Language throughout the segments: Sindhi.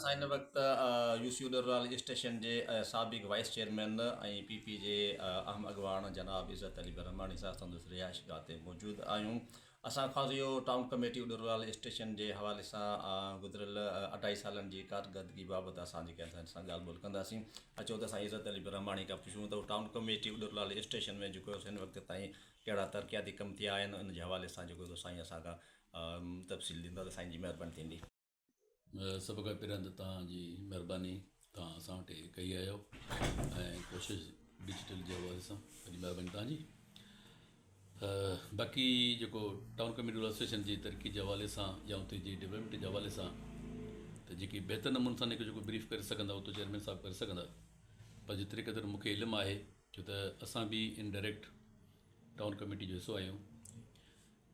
ان وقت يو سي ڏرلال اسٽيشن جي سابق وائيس چيئرمين ۽ پي پي جي اهم اڳواڻ جناب عزت علي برهماڻي صاحب سندس رهائش گاهه تي موجود آهيون. اسان خوازيو ٽائون ڪميٽي ڏرلال اسٽيشن جي حوالي سان گذريل اڍائي سالن جي ڪارڪردگي بابت اسان جي ڪنهن سان ڳالهه ٻولهه ڪنداسين. اچو ته اسان عزت علي برهماڻي کان پڇون ته ٽائون ڪميٽي ڏرلال اسٽيشن ۾ جيڪو هن وقت تائين ڪهڙا ترقياتي ڪم ٿيا آهن ان جي حوالي سان جيڪو سائين اسان کان تفصيل ڏيندا ته سائين جي مهرباني ٿيندي. سڀ کان پهريان ته توهان جي مهرباني توهان اسان وٽ هي ڪئي آيو ۽ ڪوشش ڊجيٽل جي حوالي سان وڏي مهرباني توهان جي باقي جيڪو ٽائون ڪميونٽي ايسوسيشن جي ترقي جي حوالي سان يا اتي جي ڊولپمنٽ جي حوالي سان ته جيڪي بهتر نموني سان هنکي جيڪو بريف ڪري سگهندا اتو چيئرمين صاحب ڪري سگهندا پر جيتري قدر مونکي علم آهي ڇو ته اسان به ان ڊائريڪٽ ٽائون ڪميٽي جو حصو آهيون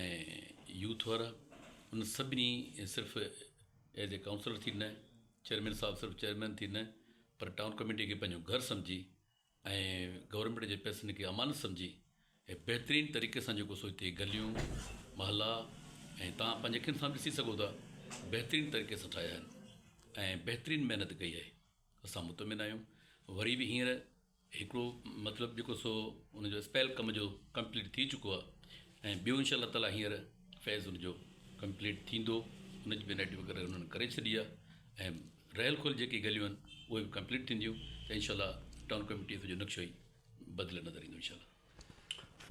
۽ يوٿ وارا ان سڀني صرف ايز اي ڪائونسلر ٿي نه چيئرمين صاحب صرف چيئرمين ٿي نه پر ٽائون ڪميٽي کي پنهنجو گهر سمجهي ۽ گورنمينٽ جي پئسن کي امانت سمجهي ۽ بهترين طريقي سان جيڪو سو هتي گليون محلا ۽ تان پنهنجي اکين سان ڏسي سگهو ٿا بهترين طريقي سان ٺاهيا آهن ۽ بهترين محنت ڪئي آهي اسان مطمئن آهيون وري به هينئر هڪڙو مطلب جيڪو سو ان جو اسپيل ڪم جو ڪمپليٽ ٿي چڪو آ ۽ ٻيو انشاء الله تعالي هينئر فيز ان جو ڪمپليٽ ٿيندو ان جي بنائٽي وغيره انهن ڪري ڇڏي آ ۽ رهيل کول جيڪي گليون آهن اهي به ڪمپليٽ ٿينديون ته انشاء الله ٽائون ڪميٽي سڄو نقشو ئي بدليل نظر ايندو انشاء الله.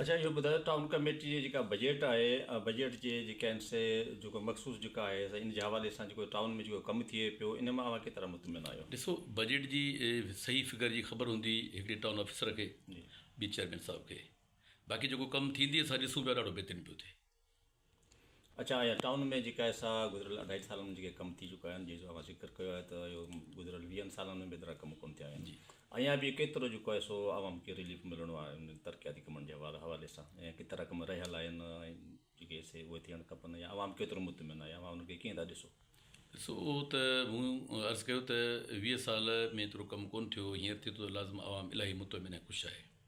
اچا اهو ٻڌايو ته ٽائون ڪميٽي جي جيڪا بجيٽ آهي بجيٽ جي جيڪا آهن سي جيڪو مخصوص جيڪا آهي سي ان جي حوالي سان جيڪو ٽائون ۾ جيڪو ڪم ٿئي پيو ان مان اوهان ڪيترا مطمئن آهيو. ڏسو بجيٽ جي صحيح فگر جي خبر هوندي هڪڙي ٽائون آفيسر کي ٻي چيئرمين صاحب کي باقي جيڪو ڪم ٿيندي اسان ڏسون پيا ڏاڍو بهترين پيو ٿئي. اچان آهيان ٽائون ۾ جيڪا سا گذريل اڍائي سالن ۾ جيڪي ڪم ٿي چڪا آهن جي سو اوهان ذڪر ڪيو آهي ته اهو گذريل ويهن سالن ۾ به ايترا ڪم ڪونه ٿيا آهن اڃان به ڪيترو جيڪو آهي سو عوام کي رليف ملڻو آهي انهن ترقياتي ڪمن جي حوالي سان ۽ ڪيترا ڪم رهيل آهن ۽ جيڪي سي اهي ٿيڻ کپن يا عوام ڪيترو مطمئن آهي اوهان انهن کي ڪيئن ٿا ڏسو. ڏسو اهو ته مون عرض ڪيو ته ويهه سال ۾ ايترو ڪم ڪونه ٿيو هينئر ٿئي ٿو ته لازم عوام الاهي مطمئن ۽ خوش آهي.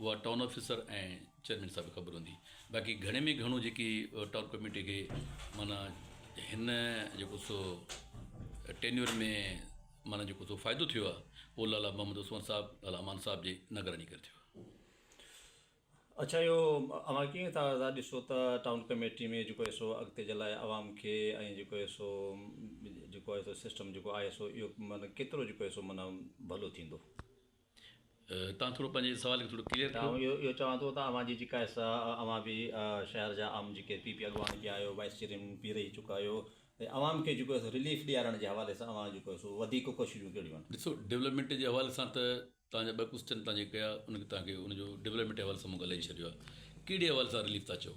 اها ٽائون آفيسر ۽ چيئرمين صاحب کي خبر هوندي باقي گهڻي ۾ گهڻو جيڪي ٽائون ڪميٽي کي معنيٰ هن جيڪو سو ٽينيور ۾ معنيٰ جيڪو سو فائدو ٿيو آهي اهو لالا محمد عثمان صاحب لالا امان صاحب جي نگراني ڪري ٿيو آهي. اڇا اهو اوهان ڪيئن ٿا ٿا ڏسو ته ٽائون ڪميٽي ۾ جيڪو سو اڳتي جي لاء عوام کي ۽ جيڪو سو جيڪو سو سسٽم جيڪو آهي سو اهو معنيٰ ڪيترو جيڪو سو معنيٰ ڀلو ٿيندو. توهان ٿورو پنهنجي سوال کي ٿورو ڪليئر ڪريو. آئون اهو چوان ٿو ته اوهان جي جيڪا حصا اوهان به شهر جا عام جيڪي پي پي اڳواڻ ٿيا آهيو وائيس چيئرمين به رهي چڪا آهيو ۽ عوام کي جيڪو سو رليف ڏيارڻ جي حوالي سان اوهان جيڪو سو وڌيڪ ڪوششون ڪهڙيون آهن؟ ڏسو ڊولپمينٽ جي حوالي سان ته توهان جا ٻه ڪوسچن توهان جيڪي ڪيا ان کي توهان کي ان جو ڊولپمينٽ جي حوالي سان مون ڳالهائي ڇڏيو آهي ڪهڙي حوالي سان رليف ٿا چئو؟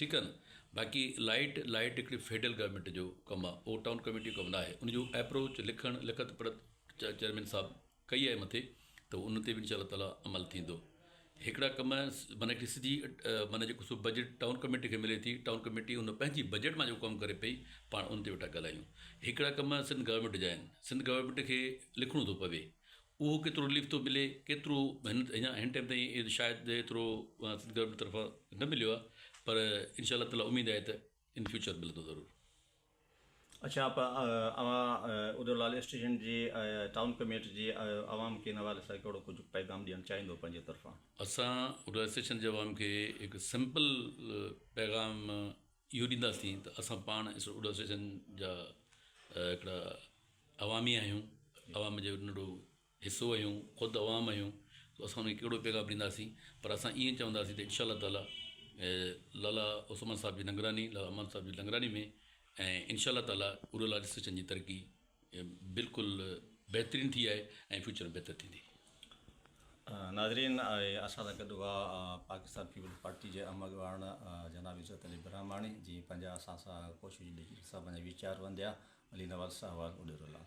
ٺيڪ آ نه باقي لائيٽ لائيٽ هڪڙي فيڊرل گورنمينٽ جو ڪم آ اهو ٽائون ڪميٽي جو ڪم نه آهي ان جو ايپروچ لکڻ لکت پڙهت چيئرمين صاحب ڪئي آهي مٿي ته ان تي به انشاء الله تعاليٰ عمل ٿيندو هڪڙا ڪم معنيٰ هڪڙي سڌي معنيٰ جيڪو سو بجيٽ ٽائون ڪميٽي کي ملي ٿي ٽائون ڪميٽي ان پنهنجي بجيٽ مان جيڪو ڪم ڪري پئي پاڻ ان تي ويٺا ڳالهايون هڪڙا ڪم سنڌ گورنمينٽ جا آهن سنڌ گورنمينٽ کي لکڻو ٿو پوي اهو ڪيترو رليف ٿو ملي ڪيترو هن هن ٽائيم تائين ايد شايد ايترو سنڌ گورنمينٽ طرفان نه مليو آهي پر انشاء الله تعاليٰ اميد آهي ته ان فيوچر ملندو ضرور. اڇا آپا اوهان ادو لال اسٽيشن جي ٽائون ڪميٽ جي عوام کي ان حوالي سان ڪهڙو ڪجهه پيغام ڏيڻ چاهيندو پنهنجي طرفان. اسان ادو لال اسٽيشن جي عوام کي هڪ سمپل پيغام اهو ڏينداسين ته اسان پاڻ اڙو اسوسيئيشن جا هڪڙا عوامي آهيون عوام جو ننڍڙو حصو آهيون خود عوام آهيون سو اسان ان کي ڪهڙو پيغام ڏينداسين پر اسان ائين چونداسين ته انشاء الله تعاليٰ لالا عثمان صاحب جي نگراني لالا عثمان صاحب جي نگراني ۾ ۽ انشاء الله تعاليٰ اڙو اسوسيئيشن جي ترقي اهي بلڪل بهترين ٿي آهي ۽ فيوچر ۾ بهتر ٿيندي. ناظرين اسان سان گڏ هئا پاڪستان پيپلز پارٽي جي اهم اڳواڻ جناب عزت علي برهماڻي جي پنهنجا اسان سان ڪوشش ڏيجي سان پنهنجا ويچار ونديا علي نواز ساهوال اڏيرو لال.